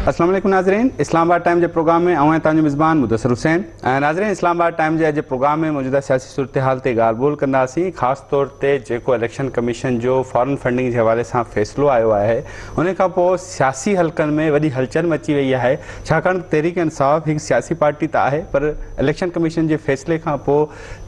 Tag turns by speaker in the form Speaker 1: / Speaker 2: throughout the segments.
Speaker 1: اسلام عليڪم ناظرين اسلام آباد ٽائيم جي پروگرام ۾ اوهان تان جو مزبان مدثر حسين ۽ ناظرين اسلام آباد ٽائيم جي اڄ پروگرام ۾ موجوده سياسي صورتحال تي ڳالهه ٻولهه ڪنداسين خاص طور تي جيڪو اليڪشن ڪميشن جو فارن فنڊنگ جي حوالي سان فيصلو آيو آهي انهي کان پوء سياسي حلقن ۾ وڏي هلچل مچي وئي آهي ڇاڪاڻ ته تحريڪ انصاف هڪ سياسي پارٽي ته آهي پر اليڪشن ڪميشن جي فيصلي کان پوء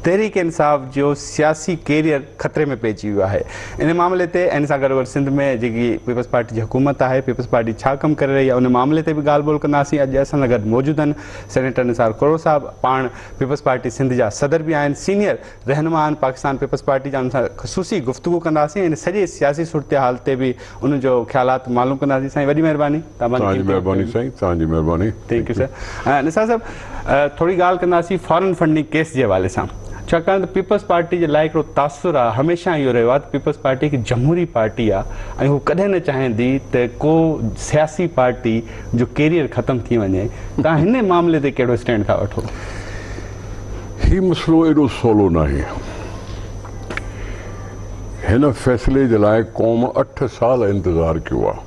Speaker 1: تحريڪ انصاف جو سياسي ڪيريئر خطري ۾ پئجي ويو آهي انهي معاملي تي ان سان گڏوگڏ سنڌ ۾ جيڪي پيپلز پارٽي جي حڪومت آهي پيپلز پارٽي ڇا ڪم ڪري رهي آهي انهي معاملي تي به ڳالهه ٻولهه ڪنداسين اڄ اسان سان گڏ موجود آهن سينيٽر نثار ڪرڙو صاحب پاڻ پيپلز پارٽي سنڌ جا صدر به آهن سينيئر رهنمائن پاڪستان پيپلز پارٽي جا انهن سان خصوصي گفتگو ڪنداسين ۽ سڄي سياسي صورتحال تي به انهن جو خيالات معلوم ڪنداسين سائين وڏي مهرباني توهان جي مهرباني
Speaker 2: سائين توهان جي مهرباني ٿينڪ يو سر
Speaker 1: نثار صاحب ٿوري ڳالهه ڪنداسين فارن فنڊنگ ڪيس جي حوالي سان ڇاڪاڻ ته پيپلز پارٽي جي لاء هڪڙو تاثر آهي هميشه اهو رهيو آهي ته پيپلز پارٽي هڪ جمهوري پارٽي آهي ۽ هو ڪڏهن نه چاهيندي ته ڪو سياسي پارٽي جو ڪيريئر ختم ٿي وڃي توهان هن معاملي تي ڪهڙو اسٽينڊ ٿا وٺو
Speaker 2: هي مسئلو ايڏو سولو ناهي. هن فيصلي جي لاء قوم اٺ سال انتظار ڪيو آهي.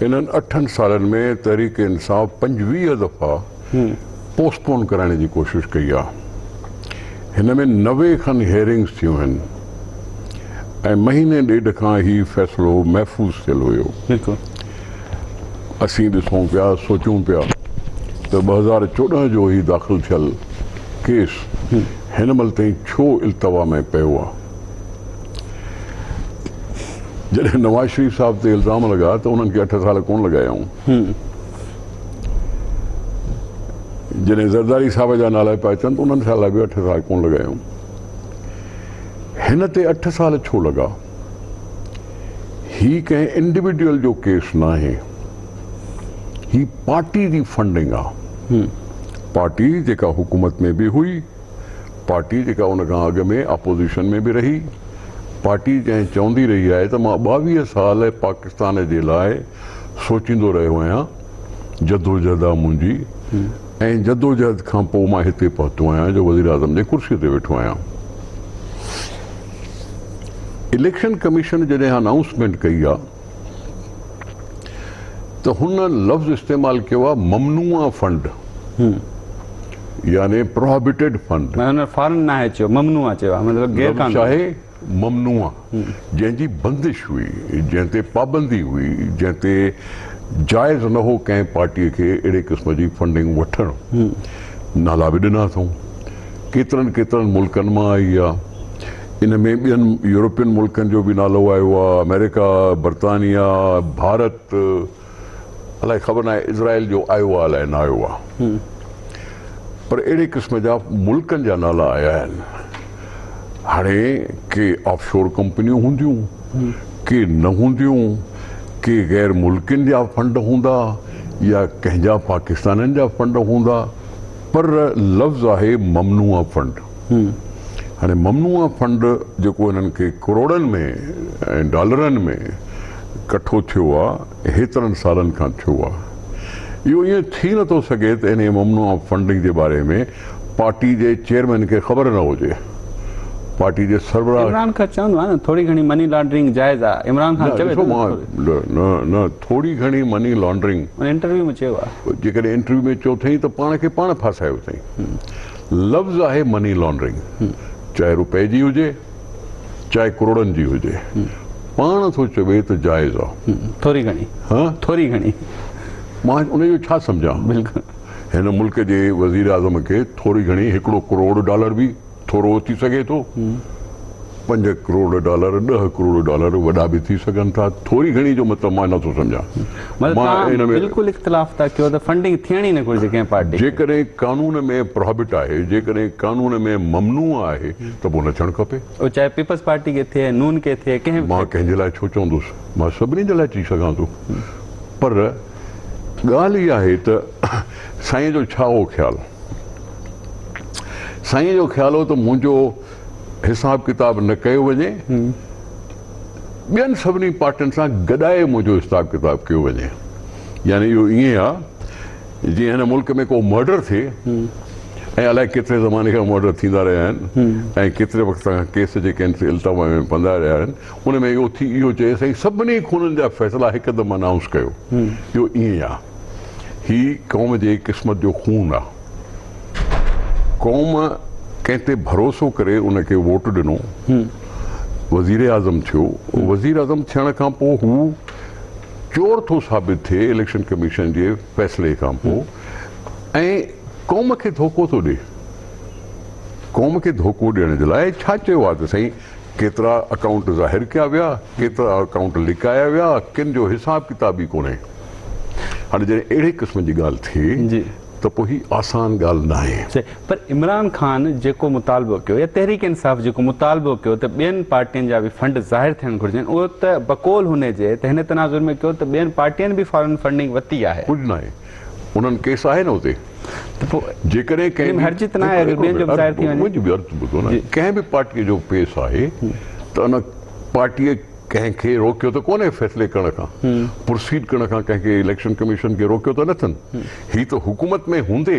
Speaker 2: انهن اٺن سالن ۾ تحريڪ انصاف پنجويهه دفعا پوسٽ پون ڪرائڻ جي ڪوشش ڪئي آهي. هن ۾ نوي کن هيئرنگز ٿيون آهن. ۽ مهيني ڏيڍ کان هي فيصلو محفوظ ٿيل هيو. اسين ڏسون پيا، سوچون پيا ته ٻه هزار چوڏهن جو هي داخل ٿيل ڪيس هن مهل تائين ڇو التوا ۾ پيو آ؟ جڏهن نواز شريف صاحب تي الزام لڳا ته انهن کي اٺ سال ڪونه لڳايائون. جڏهن زرداري صاحب جا نالا پيا اچن ته انهن سال به اٺ سال ڪونه لڳايائون. هن تي اٺ سال ڇو لڳا؟ هي ڪنهن انڊيوڊيول جو ڪيس ناهي. هي پارٽي جي فنڊنگ آ. پارٽي جيڪا حڪومت ۾ به هئي، پارٽي جيڪا ان کان اڳ ۾ اپوزيشن ۾ به رهي، پارٽي جنهن چوندي رهي آهي ته مان ٻاويهه سال پاڪستان جي لاء سوچيندو رهيو آهيان، جدوجهد آهي منهنجي ۽ جدوجهد کان پوء مان هتي پهتو آهيان جو وزيراعظم جي ڪرسي تي ويٺو آهيان. اليڪشن ڪميشن جڏهن انائونسمينٽ ڪئي آهي ته هن لفظ استعمال ڪيو آهي ممنوع فنڊ يعني پروهبيٽيڊ فنڊ. معنيٰ فارن ناهي چيو،
Speaker 1: ممنوع چيو آهي مطلب غير قانوني. ممنوع،
Speaker 2: جنهن جي بندش هئي، جنهن تي پابندي هئي، جنهن تي جائز نه هو ڪنهن پارٽيء کي اهڙي قسم جي فنڊنگ وٺڻ. نالا به ڏنا اٿئون. ڪيترن ڪيترن ملڪن مان آئي آ. ان ۾ ٻين يورپين ملڪن جو به نالو آيو آ، آمريڪا، برطانيا، ڀارت، الائي خبر ناهي اسرائيل جو آيو آ الائي نه آيو آ پر اهڙي قسم جا ملڪن جا نالا آيا آهن هاڻي ڪي آف شور ڪمپنيون هونديون ڪي نه هونديون ڪي غير ملڪين جا فنڊ هوندا يا ڪنهن جا پاڪستانين جا فنڊ هوندا پر لفظ آهي ممنوعه فنڊ. هاڻي ممنوع فنڊ جيڪو هنن کي ڪروڙن ۾ ۽ ڊالرن ۾ ڪٺو ٿيو آ هيترن سالن کان ٿيو آ اهو ائين ٿي نه ٿو سگهي ته انهي ممنوع فنڊنگ جي باري ۾ پارٽي جي چيئرمين کي خبر نه هجي پارٽي جي سربراهه عمران کان چوندو آهي نه
Speaker 1: ٿوري گهڻي مني لانڊرنگ جائز آ عمران خان چوي ٿو نه نه نه
Speaker 2: ٿوري گهڻي مني لانڊرنگ انهي انٽرويو ۾ چيو آ
Speaker 1: جيڪڏهن انٽرويو ۾ چيو
Speaker 2: اٿئي ته پاڻ کي پاڻ ڦاسايو اٿئي. لفظ آهي مني لانڊرنگ چاهي روپئي جي هجي چاهي ڪروڙن جي هجي پاڻ ٿو چوي ته جائز آ ٿوري گهڻي ها
Speaker 1: ٿوري گهڻي مان
Speaker 2: ان جو ڇا سمجهان بلڪل هن
Speaker 1: ملڪ جي
Speaker 2: وزير اعظم کي ٿوري گهڻي هڪڙو ڪروڙ ڊالر به ٿورو ٿي سگهي ٿو. پنج ڪروڙ ڊالر، ڏهه ڪروڙ ڊالر وڏا به ٿي سگهن ٿا، ٿوري گهڻي جو مطلب مان نه ٿو سمجهان. مطلب توهان
Speaker 1: بلڪل اختلاف ٿا ڪيو ته فنڊنگ ٿيڻ ئي نه گهرجي ڪنهن پارٽي کي. جيڪڏهن قانون
Speaker 2: ۾ پراهبٽ آهي، جيڪڏهن قانون ۾ ممنوع آهي ته پوء نه ٿيڻ کپي. اهو چاهي پيپلز پارٽي
Speaker 1: کي ٿئي، نون کي ٿئي، ڪنهن به کي ٿئي. مان ڪنهن جي لاء ڇو
Speaker 2: چوندس؟ مان سڀني جي لاء چئي سگهان ٿو. پر ڳالهه اها آهي ته سائين جو ڇا هو خيال؟ سائين جو خيال هو ته منهنجو حساب ڪتاب نه ڪيو وڃي ٻين سڀني پارٽين سان گڏائي منهنجو حساب ڪتاب ڪيو وڃي يعني اهو ائين آهي جي هن ملڪ ۾ ڪو مرڊر ٿئي ۽ الائي ڪيتري زماني کان مرڊر ٿيندا رهيا آهن ۽ ڪيتري وقت کان ڪيس جيڪي آهن سي التوا ۾ پندا رهيا آهن ان ۾ اهو ٿي اهو چئي سائين سڀني خونن جا فيصلا هڪدم انائونس ڪيو اهو ائين آهي هي قوم جي قسمت جو خون آ. قوم ڪنهن تي ڀروسو ڪري ان کي ووٽ ڏنو، وزيراعظم ٿيو، وزيراعظم ٿيڻ کان پوء هو چور ٿو ثابت ٿئي اليڪشن ڪميشن جي فيصلي کان پوء ۽ قوم کي ڌوڪو ٿو ڏي. قوم کي ڌوڪو ڏيڻ جي لاء ڇا چيو آ ته سائين ڪيترا اڪائونٽ ظاهر ڪيا ويا، ڪيترا اڪائونٽ لڪايا ويا، ڪن جو حساب ڪتاب ئي ڪونهي. هاڻي جڏهن اهڙي قسم جي ڳالهه ٿئي ته پوء هي آسان ڳالهه ناهي. صحيح پر عمران
Speaker 1: خان جيڪو مطالبو ڪيو يا تحريڪ انصاف جيڪو مطالبو ڪيو ته ٻين پارٽين جا به فنڊ ظاهر ٿيڻ گهرجن اهو ته بقول هن جي ته هن تناظر ۾ ڪيو ته ٻين پارٽين به فارن فنڊنگ وتي آهي. ڪجهه ناهي.
Speaker 2: انهن ڪيس آهي نه اتي ته پوء جيڪڏهن ڪنهن به پارٽي جو ڪيس آهي ته ان پارٽي ڪنهن کي روڪيو ته ڪونهي فيصلي ڪرڻ کان پروسيڊ ڪرڻ کان ڪنهن کي اليڪشن ڪميشن کي روڪيو ته نه اٿن هي ته حڪومت ۾ هوندي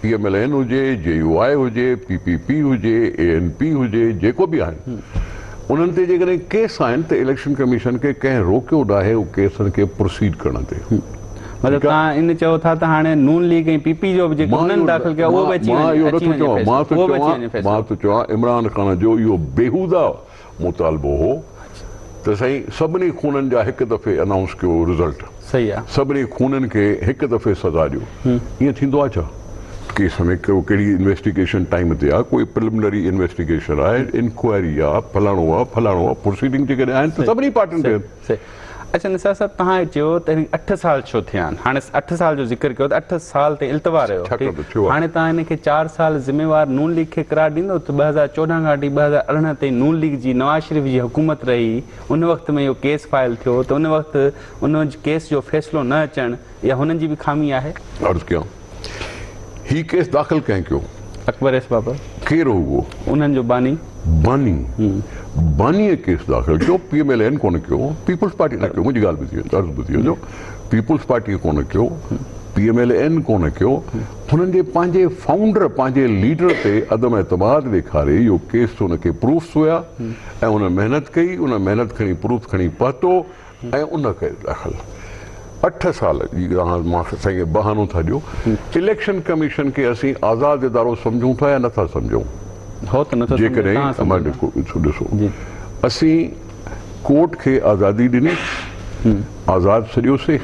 Speaker 2: پي ايم ايل اين هجي، جي يو آء هجي، پي پي پي هجي، اي اين پي هجي، جيڪو به آهن انهن تي جيڪڏهن ڪيس آهن ته اليڪشن ڪميشن کي ڪنهن روڪيو ناهي ان ڪيسن کي پروسيڊ ڪرڻ تي. مطلب توهان
Speaker 1: ان چئو ٿا ته هاڻي نون ليگ ۽ پي پي جو به جيڪو انهن داخل ڪيو آهي اهو به اچي وڃي مان اهو نٿو چوان مان
Speaker 2: ٿو چوان عمران خان جو اهو بيهوده مطالبو هو ته سائين سڀني خونن جا هڪ دفعي انائونس ڪيو رزلٽ سڀني
Speaker 1: خونن کي
Speaker 2: هڪ دفعي سزا ڏيو ائين ٿيندو آهي ڇا ڪيس ۾ ڪهڙي انويسٽيگيشن ٽائيم تي آهي ڪوئي پرلمنري انويسٽيگيشن آهي انڪوائري آهي فلاڻو آهي فلاڻو آهي پروسيڊنگ جيڪڏهن آهن ته سڀني پارٽين تي سي، اڇا نثار صاحب
Speaker 1: تهان چيو ته هن کي اٺ سال ڇو ٿيا آهن، هاڻي اٺ سال جو ذڪر ڪيو ته اٺ سال تائين التوا رهيو، هاڻي تهان هن کي چار سال ذميوار نون ليگ کي قرار ڏيندو ته ٻه هزار چوڏهن کان وٺي ٻه هزار ارڙهن تائين نون ليگ جي نواز شريف جي حڪومت رهي ان وقت ۾ اهو ڪيس فائل ٿيو ته ان وقت ان ڪيس جو فيصلو نه اچڻ اها هنن جي به خامي آهي. عرض ڪيان.
Speaker 2: هي ڪيس داخل ڪنهن ڪيو؟ اڪبر ايس بابر.
Speaker 1: ڪير هو اهو؟
Speaker 2: انهن جو باني.
Speaker 1: باني.
Speaker 2: بانيء ڪيس داخل ڪيو. پي ايم ايل اين ڪونه ڪيو. پيپلز پارٽي نه ڪيو. منهنجي ڳالهه ٻڌي عرض ٻڌي وڃو. پيپلز پارٽيء ڪونه ڪيو. پي ايم ايل اين ڪونه ڪيو. هنن جي پنهنجي فائونڊر، پنهنجي ليڊر تي عدم اعتماد ڏيکاري اهو ڪيس هن کي پروفس هيا ۽ هن محنت ڪئي. هن محنت کڻي پروف کڻي پهتو ۽ ان ڪري داخل اٺ سال جي رهاڻ مان سائين بهانو ٿا ڏيو اليڪشن ڪميشن کي اسين آزاد ادارو سمجهون ٿا يا نٿا سمجهون جيڪڏهن ڏسو اسين ڪورٽ کي آزادي ڏني آزاد ڇڏيو سي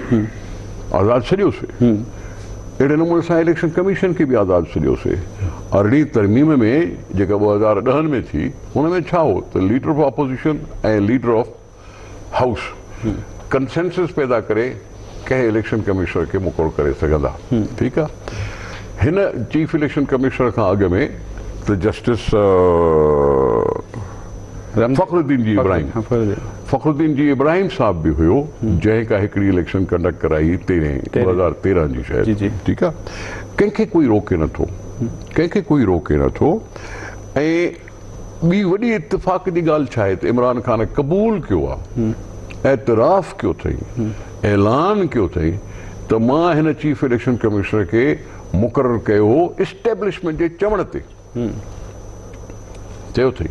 Speaker 2: آزاد ڇڏيو سي اهڙي نموني سان اليڪشن ڪميشن کي به آزاد ڇڏيو سي ارڙهين ترميم ۾ جيڪا ٻه هزار ڏهن ۾ ٿي ان ۾ ڇا هو ته leader of opposition ۽ leader of house consensus پيدا ڪري ڪنهن اليڪشن ڪمشنر کي مقرر ڪري سگهندا ٺيڪ آ هن چيف اليڪشن ڪمشنر کان اڳ ۾ ته جسٽس فخر الدين جي ابراهيم فخر الدين جي ابراهيم صاحب به هيو جنهن ڪا هڪڙي اليڪشن ڪنڊڪٽ ڪرائي تيرهين ٻه هزار تيرهن جي شايد ٺيڪ آ ڪنهن کي ڪوئي روڪي نٿو ڪنهن کي ڪوئي روڪي نٿو ۽ ٻي وڏي اتفاق جي ڳالهه ڇا آهي ته عمران خان قبول ڪيو آهي، اعتراف ڪيو اٿئي، اعلان ڪيو اٿئي ته مان هن چيف اليڪشن ڪمشنر کي مقرر ڪيو هو اسٽيبلشمينٽ جي چوڻ تي چيو اٿئي.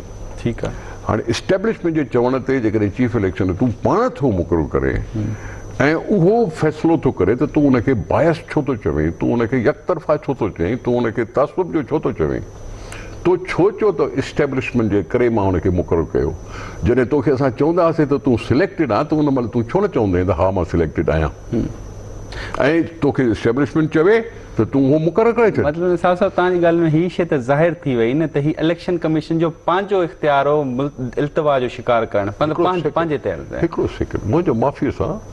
Speaker 2: هاڻي
Speaker 1: اسٽيبلشمينٽ
Speaker 2: جي چوڻ تي جيڪڏهن چيف اليڪشن تون پاڻ ٿو مقرر ڪرين ۽ اهو فيصلو ٿو ڪري ته تون ان کي بائس ڇو ٿو چوين، تون ان کي يڪطرفا ڇو ٿو چئين، تون ان کي تعصب جو ڇو ٿو چوين. تو ڇو چئو ته اسٽيبلشمينٽ جي ڪري مان هن کي مقرر ڪيو؟ جڏهن توکي اسان چوندا هئاسين ته تون سليڪٽيڊ آهين ته ان مهل تون ڇو نه چوندين ته ها مان سليڪٽيڊ آهيان ۽ توکي اسٽيبلشمينٽ چوي ته تون اهو مقرر ڪري ڇڏ. مطلب نثار صاحب توهان جي ڳالهه
Speaker 1: ۾ هي شيء ته ظاهر ٿي وئي نه ته هي اليڪشن ڪميشن جو پنهنجو اختيار هو التوا جو شڪار ڪرڻ پنهنجي تي هڻڻ. هڪڙو سيڪنڊ منهنجو
Speaker 2: معافيء سان.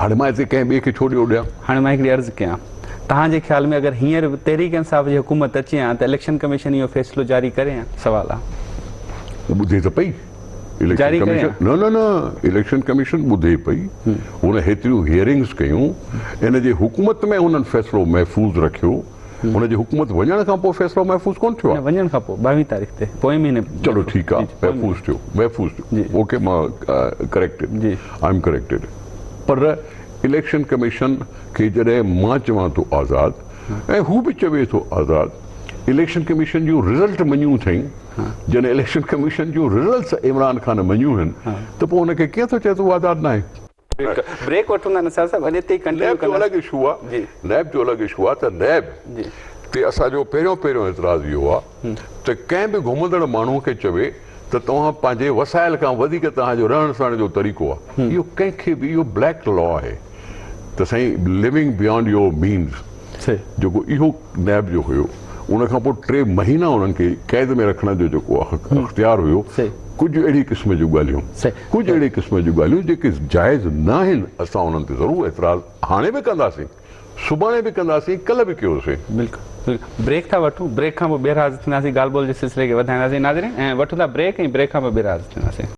Speaker 2: هاڻي
Speaker 1: مان هتي ڪنهن
Speaker 2: ٻئي کي ڇو ڏيئو ڏيان؟ هاڻي مان هڪڙي عرض ڪيان.
Speaker 1: توهان جي خيال ۾ اگر هينئر تحريڪ انصاف جي حڪومت اچي ها ته اليڪشن ڪميشن اهو فيصلو جاري ڪري ها؟ سوال آ. هو ٻڌي ته پئي. جاري
Speaker 2: ڪري
Speaker 1: ها؟ نه نه
Speaker 2: نه اليڪشن ڪميشن ٻڌي پئي. هن هيتريون هيئرنگز ڪيون. ان جي حڪومت ۾ هنن فيصلو محفوظ رکيو. هن جي حڪومت وڃڻ کان پوء فيصلو محفوظ ڪونه ٿيو آهي. نه وڃڻ کان پوء ٻاوهين تاريخ
Speaker 1: تي پوئين مهيني. چلو ٺيڪ آهي
Speaker 2: محفوظ ٿيو محفوظ ٿيو اوڪي مان ڪريڪٽيڊ آء ايم ڪريڪٽيڊ پر اليڪشن ڪميشن کي جڏهن مان چوان ٿو آزاد ۽ هو به چوي ٿو آزاد اليڪشن ڪميشن جون رزلٽ مڃيون اٿئي جڏهن اليڪشن ڪميشن جون رزلٽس عمران خان مڃيون آهن ته پوء هن کي ڪيئن ٿو چئي ته هو آزاد ناهي. هڪ بريڪ وٺون
Speaker 1: ٿا نثار صاحب اڄ اتي ئي ڪنٽينيو
Speaker 2: ڪنداسين. نيب جو الڳ اشو آ نيب جو الڳ اشو آ ته نيب تي اسان جو پهريون پهريون اعتراض اهو آ ته ڪنهن به گهمندڙ ماڻهو کي چوي ته توهان پنهنجي وسائل کان وڌيڪ توهان جو رهڻ سهڻ جو طريقو آ اهو ڪنهن کي به اهو بليڪ لا آهي ته سائين لوينگ بيانڊ يور مينز. سي جيڪو اهو نيب جو هيو ان کان پوء ٽي مهينا انهن کي قيد ۾ رکڻ جو جيڪو اختيار هيو ڪجهه اهڙي قسم جون ڳالهيون ڪجهه اهڙي قسم جون ڳالهيون جيڪي جائز ناهن اسان انهن تي ضرور اعتراض هاڻي به ڪنداسين سڀاڻي به ڪنداسين ڪلهه به ڪيوسين. بلڪل
Speaker 1: بريڪ ٿا وٺون بريڪ کان پوء ٻيهر حاضر ٿينداسين ڳالهه ٻولهه جي سلسلي کي وڌائينداسين ناظرين وٺون ٿا بريڪ ۽ بريڪ کان پوء ٻيهر حاضر ٿينداسين.